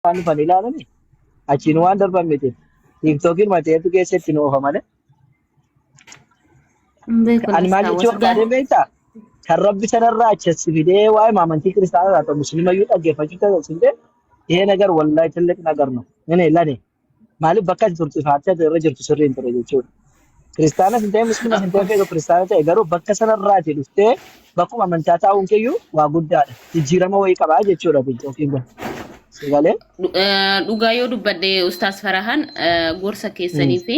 waan dhufan ilaalani achiin waan darban miti. Tiiktookiin mateetu keessa itti nu oofa malee. Hin beeku Ani maal lakkaa jechuu wata barbaadeen gaafii. beektaa? Kan rabbi sanarraa achi as fidee waa'ee maamantii kiristaanaa irraa ta'u musliimayyuu dhaggeeffachuu taasisee ee nagar wallaahi tilliq nagar nu. Inni lani. Maaliif bakka ati turte faartee ati irra jirtu sirrii hin ture jechuudha. Kiristaanas hin ta'e musliimas hin ta'e feetu kiristaana ta'e garuu bakka sanarraati dhuftee bakkuma amantaa taa'uun keeyyuu waa guddaadha. Jijjiirama wayii qabaa jechuudha yookiin kun. Sagalee. Dhugaa yoo dubbadde Ustaas Farahaan gorsa keessanii fi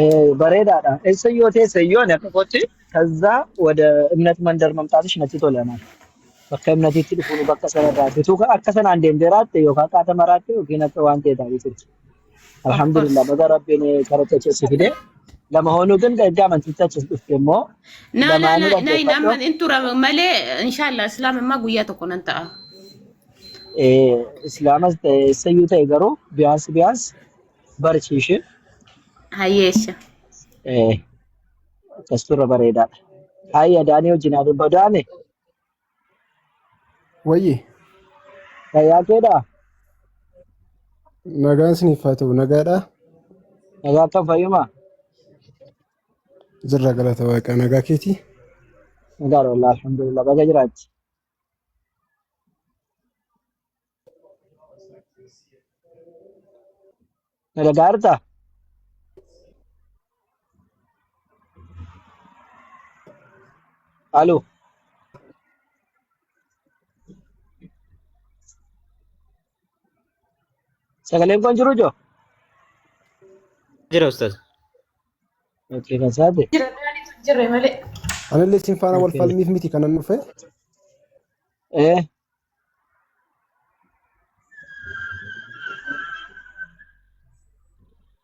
Eh, bareedaadha. Eessa yoo teesse yoo ani akka kootti kazzaa wada imnat mandar mamtaatish natti tola naan. Bakka imnatiitti dhufuun bakka sanarraa bituu ka- akka sanaan deemtee raatte yookaan qaata maraatte yookiin akka waan ta'e taatee turte. Of course. Alhamdulillah baga rabbiin karatti achi si fide. Lama hoonuu ganda erga amantiitti achi dhufte immoo Na na lamaanuu na na hin dhaggeeffadhu. amman in tura malee inshallah islaam immaa guyyaa tokko nan ta'a. Eh, Islaamas ta'e eessayyuu ta'e garuu biyaansi biyaansi barsiishe Hayyeesha. eh, akkas turre bareedaadha. Haayya daanii wajjin haa dubba daane Wayye fayyaa keedhaa nagaan isiniif haa ta'u nagaadhaa nagaa akka fayyumaa jirra galata waaqaa nagaa keetii. nagaadha wallah alhamdulillah baga jiraatti. Na dhaga'artaa? Haaloo. Sagaleen kun jiru joo? Jira ustaz. Okkee kan saate. Jira daaniitu hin jirre malee. Anillee isin faana wal falmiif miti kanan dhufe. Eh.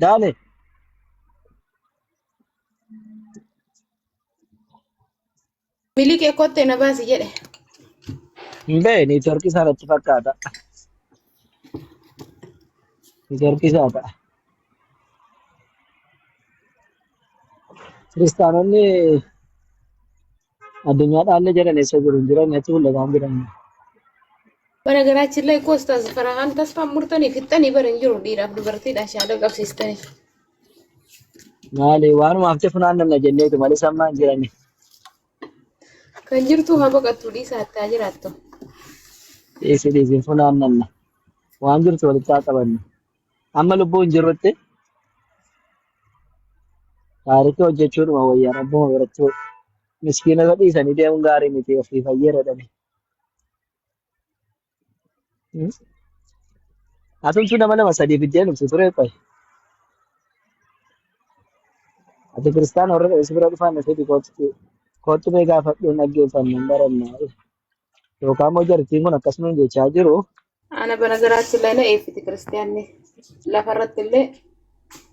Dale. Miliqee kottee na baasi jedhe. Hin ba'e neetworkii isaa natti fakkaata. Neetworkii isaa ta'a. Kiristaanonni Addunyaa dhaallee jedhan eessa jiru hin jiran natti mul'ataan jiran. Baragaraachin laayikoo istaas farahaan tasfaan murtanii fixxanii bara hin jiru dhiiraaf dubartiidha shaadoo qabsiistanii. Maali waanuma hafte funaannamna jenneetu malee sammaa hin jiran. Kan jirtu haa baqattu dhiisa hattaa jiraattu. Dhiisi dhiisi hin funaannamna. Waan jirtu walitti haa qabannu. Amma lubbuu hin jirrutti gaariitti hojjechuudhuma wayyaa rabbuma biratti miskiinota dhiisanii deemuun gaarii miti ofii fayyadadhani. Atumtu nama lama sadii fiddee nufti ture qoy. Ati kiristaana warra dhabes bira dhufaan na fidi kootti kootti mee gaafadhuun dhaggeeffannu hin baranna. Yookaan immoo jartiin kun akkas nuun jechaa jiru. Ana bara garaatti illee na eebbiti kiristiyaanni. Lafa irratti illee,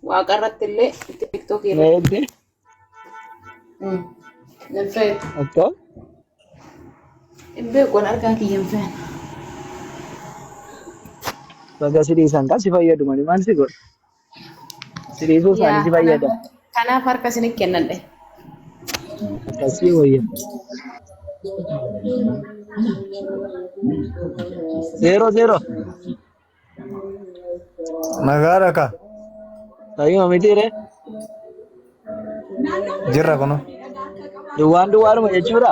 waaqa irratti illee, tiktookii Na irratti. eebbi Mm. Nan feetu. akka Hin beeku an argaa kiyya hin feetu. baga si dhiisan kan si fayyadu malee maal si godha? Siriisuu yaa isaanitti kanaaf fayyada. kanaaf harka isinit kennadhe Akkasii wayya. Zeeroo zeeroo. Nagaadha ka. Fayyuma mitiire. Jirra kuno. Duwwaan duwwaadhuma jechuudha.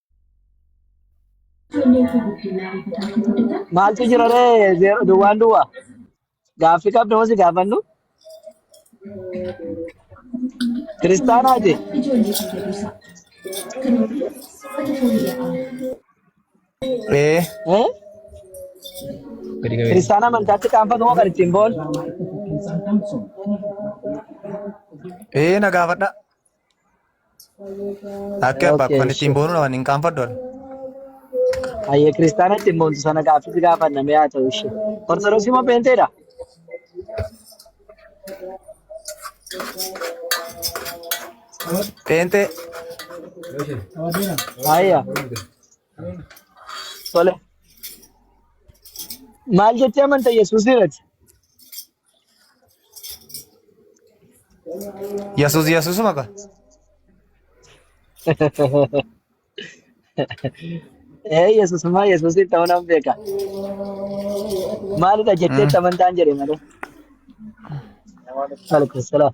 Maaltu jira ree zeero duwwaan duwwaa? Gaaffii qabda hosi gaafannu? Kiristaanaati? Ee. Eh? Gadi qabee. Kiristaana amantaatti qaanfatu hoo kan ittiin boon? Ee na gaafadha. Akka abbaa Okay, kan ittiin sure. boonudha waan hin qaanfadhu. Hayyee kiristaana ittiin boontu sana gaaffiis gaafanna mee haa ta'u ishee. Ortodoksii moo peenteedha? Peenxee Hayya. Tole. Maal jettee amanta Yesuus irratti? Yesus Yesusuma ka. Ee Yesusuma Yesusiin ta'uu nan beeka. Maalidha jettee Mm. amantaan jedhe malee. Waalaikumsalam.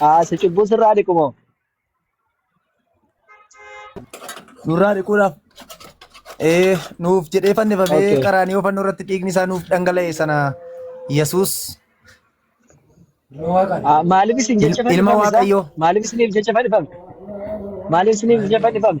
Haa si cubbuu sirraa dhiqu moo? Nurraa dhiquudhaaf ee, nuuf jedhee fannifamee Okay. qaraaniyoo fannoo irratti dhiigni isaa nuuf dhangala'e sana Yesuus Ah, Maaliif isin jecha Il- ilma fannifame isaa? Waaqayyoo. Maaliif isiniif jecha fannifame? Maaliif isiniif jecha fannifame?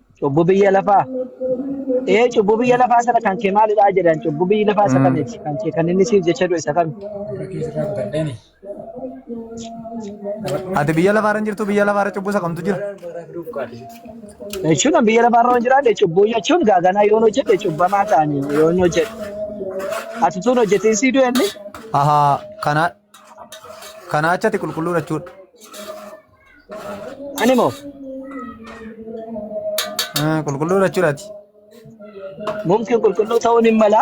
Cubbuu biyya lafaa. Ee cubbuu biyya lafaa sana kan kee maalidhaa jedhan cubbuu biyyi lafaa isa kamiiti kan kee kan inni siif jecha du'e isa kami. Ati biyya lafaarra hin jirtu biyya lafaarra cubbuu isa kamtu jira. Jechuun an biyya lafaarra waan jiraadhe cubbuu jechuun gaaganaa yoon hojjedhe cubbamaa ta'anii yoon hojjedhe. Ati tuun hojjetiin sii du'e inni Ahaa kanaa Kana achati qulqulluudha jechuudha. Ani moo Ah, Qulqulluudha jechuudha ati. mumkin qulqulluu ta'uun hin mala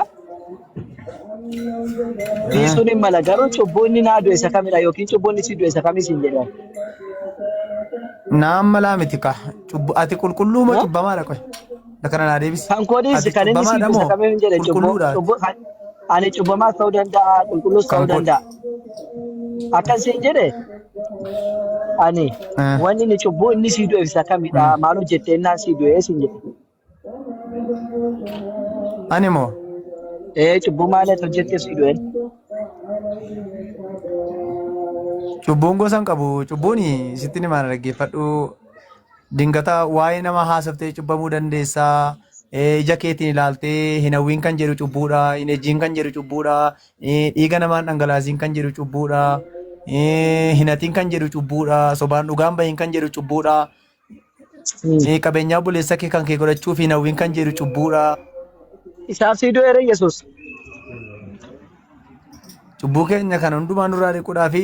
dhiisuun hin mala garuu cubbuu inni naa du'e isa kamidha yookiin cubbuu inni si du'e isa kamis hin jedhan. Naan malaa miti kaa. Cubbu- Ati qulqulluu moo Moo? cubbamaadha qoy. na kana naa deebisi Kan koodiis ati kan inni sii cubbamaadha moo fudhatamee hin jedhe cubboo qulqulluudha ati cubboo kan ani cubbamaas ta'uu danda'a qulqulluus kan ta'uu koodi danda'a. Akkan siin jedhe ani Eh, wanni inni cubbuu inni sii du'eef isa kamidha mm. maal hojjettee innaan sii du'ee siin jedhe. ani moo Ee cubbuu maal ati hojjettee sii du'ee? cubbuun gosa hin qabu cubbuun sitti ni maana dhaggeeffadhu Dingata waa'ee nama haasoftee cubbamuu dandeessa. Eh, Ija keetiin ilaaltee hin hawwiin kan jedhu cubbuudha. Hin ejjiin kan jedhu cubbuudha. Eh, Dhiiga namaan dhangalaasiin kan jedhu cubbuudha. Eh, Hin hatiin kan jedhu cubbuudha. Sobaan dhugaan bahiin kan jedhu cubbuudha. Eh, Qabeenyaa buleessa kee kan kee godhachuuf hin hawwiin kan jedhu cubbuudha. Isaaf sii du'eera Yesuus. Cubbuu keenya kan hundumaa nurraa dhiquudhaa fi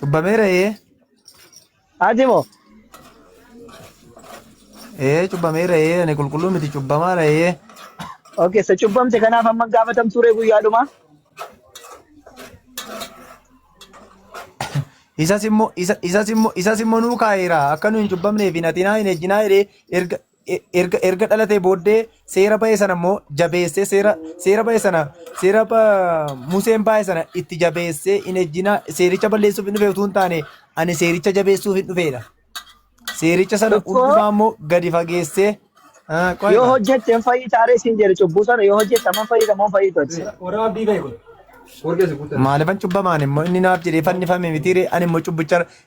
Cubbameera ee. Ati moo? Ee cubbameera ee ani qulqulluu miti cubbamaara ee. Okay, isa cubbamte kanaaf amma gaafatam ture guyyaa dhumaa. Isas immoo isa- isas immoo isas immoo nuu kaa'eera akka nu hin cubbamneef hin hatinaa hin ejjinaa jedhee erga e- erga erga dhalatee booddee seera ba'e sana immoo jabeessee seera seera ba'e sana seera ba- Museen ba'e sana itti jabeessee hin ejjina seericha balleessuuf hin dhufe utuu hin taane ani seericha jabeessuuf hin dhufeedha. Seericha sana Tokko hundumaa immoo gadi fageessee Ah, yoo qoyma. hojjette hin fayyita aree siin jedhe cubbuu sana yoo hojjette amma hin fayyita amma hin fayyita ati. Warra abdii ka'e kun. Warra isa guutan. Maaliifan cubbamaan immoo inni naaf jedhee fannifame mitiire ani immoo cubbicha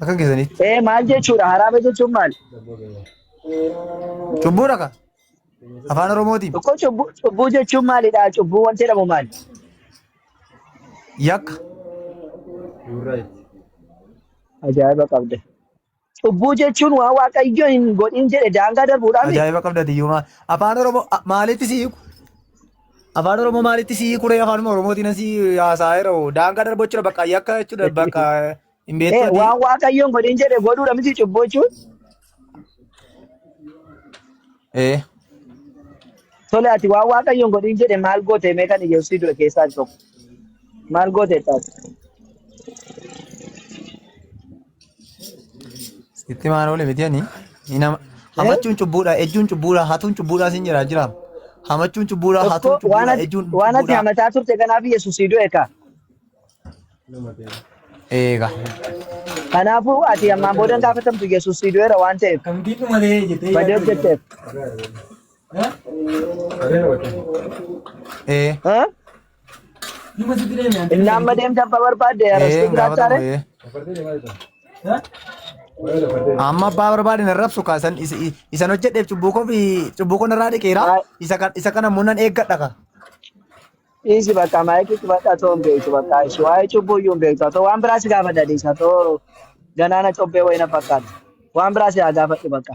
Akka keessanitti. Ee maal jechuudha haraama jechuun maal? Cubbuu dhaqa. Afaan Oromootiin. Tokko cubbuu cubbuu jechuun maalidha? Cubbuu wanti jedhamu maali? Yakka. Ajaa'iba qabda. Cubbuu jechuun waan waaqayyo hin godhin jedhe daangaa darbuudhaami. Ajaa'iba qabda tiyyuu maal. Afaan Oromoo a- maalitti si hiiku? Afaan Oromoo maalitti si hiiku ree afaanuma Oromootiin asi haasa'eera hoo daangaa darbachuudha bakka yakka jechuudha bakka hin Ee, beektuuti. waan waaqayyoon godhin jedhe godhuudha miti cubbuu jechuun. Ee Tole ati waan waaqayyoon godhin jedhe maal goote mee kan Yesuusii du'e keessaa tokko. Maal goote taate? Itti maan oole miti ani. Inama. Hamachuun cubbuudha, ejjuun cubbuudha, hatuun cubbuudha siin jira jiraam. Hamachuun cubbuudha, hatuun Tokko waan cubbuudha, ati ejjuun waan ati cubbuudha. hamataa turte kanaaf Yesuus si du'e kaa. Eega. Kanaafuu ati ammaan booda hin gaafatamtu Yesuus si du'eera waan ta'eef. Kamtiin dhuma ta'ee jettee Badee hojjetteef. Ee. Haa? Numa sitti deeme ante. Innaan madeem jabba barbaadde Ee, arrastuu hin gaafatamu, jiraachaare. ee. Amma abbaa barbaadin arrabsu kaa isan is- i- isan hojjedheef cubbuu koo fi cubbuu koo narraa dhiqeera. Maa- Isa kan isa kana immoo nan eeggadha kaa. Dhiisi bakka maayikii cufadha too hin beektu bakka ishee waa'ee cubbuu iyyuu hin beektu too waan biraa si gaafadha dhiisa too ganaana cobbee wayina fakkaata waan biraa si haa gaafadhu bakka.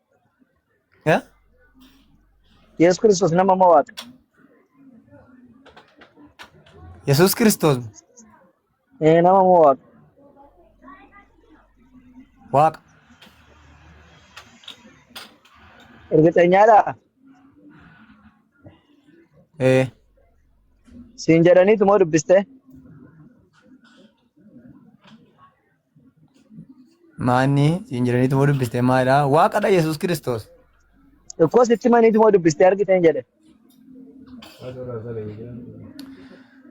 Eh? Yesus Kiristoos nama moo waaqa? Yesuus Kiristoos Eh, nama moo waaqa? waaqa. Ergixeenyaadha? Eh. Siin jedhaniitu moo dubbiste? Maanni siin jiraniitu moo dubbiste maalidha? Waaqadha Yesuus Kiristoos. Tokkos itti maniitu moo dubbiste argiteen jedhe.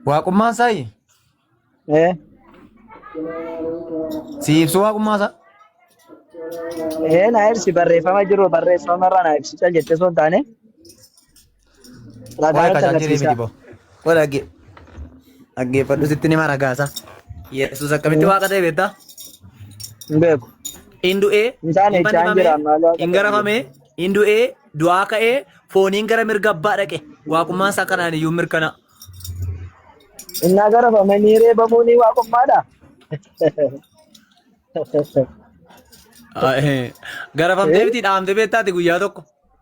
Waaqummaan isaa Ee, si ibsu waaqummaa isaa. ee na ibsi barreeffama jiru barreeffama irraa na ibsi cal jettee osoo hin taane Waa'ee tajaajilii miti boo. Wal dhagge- dhaggeeffadhu sitti nima ragaasa. Yesuus akkamitti waaqa ta'e beektaa? Hin beeku. Hin du'ee, Isaan hin jechaan fannifamee, jira, maaloo akka hin garafamee, hin du'ee, du'aa ka'ee, fooniin gara mirga abbaa dhaqe. Waaqummaan isaa kanaan iyyuu mirkana. Innaa garafamanii reebamuu ni waaqummaadha. Garafamtee miti dhaamtee beektaati guyyaa tokko.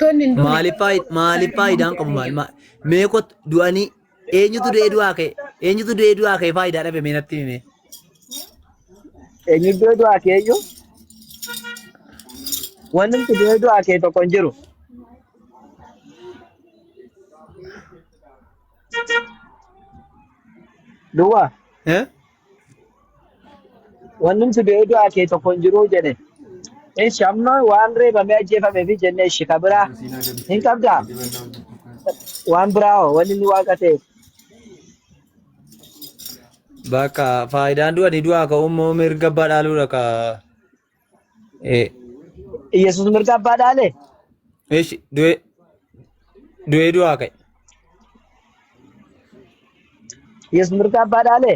Tonni hin duune. Maaliif faayid- maaliif faayidaan qabu maal maal meekot du'anii eenyutu du'ee du'aa ka'e eenyutu du'ee du'aa ka'e faayidaa dhabe mee natti himee. Eenyu iddoo du'aa kee iyyuu wanti nuti iddoo du'aa kee tokko hin jiru. Duwwaa Eh? Wanni si bee du'aa kee tokko hin jiruu jedhe. Eshi amma waan reebamee ajjeefamee fi jenne eshi ka biraa hin qabdaa? Waan biraa hoo wanni inni waaqa ta'eef. Bakka faayidaan du'anii du'aa ka'uu immoo mirga badhaaluudha ka Eh, Yesus mirga abbaa dhaale? Eesh, du'ee du'ee du'aa ka'e. Yesus mirga abbaa dhaale?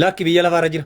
Lakki biyya lafaarra jira.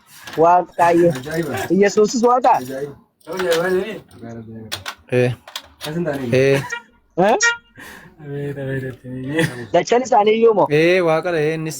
Waaqayyo. Yesuusis waaqa. Ee. Ee. Eh? Lachan isaanii iyyuu moo? Ee waaqadha ee innis.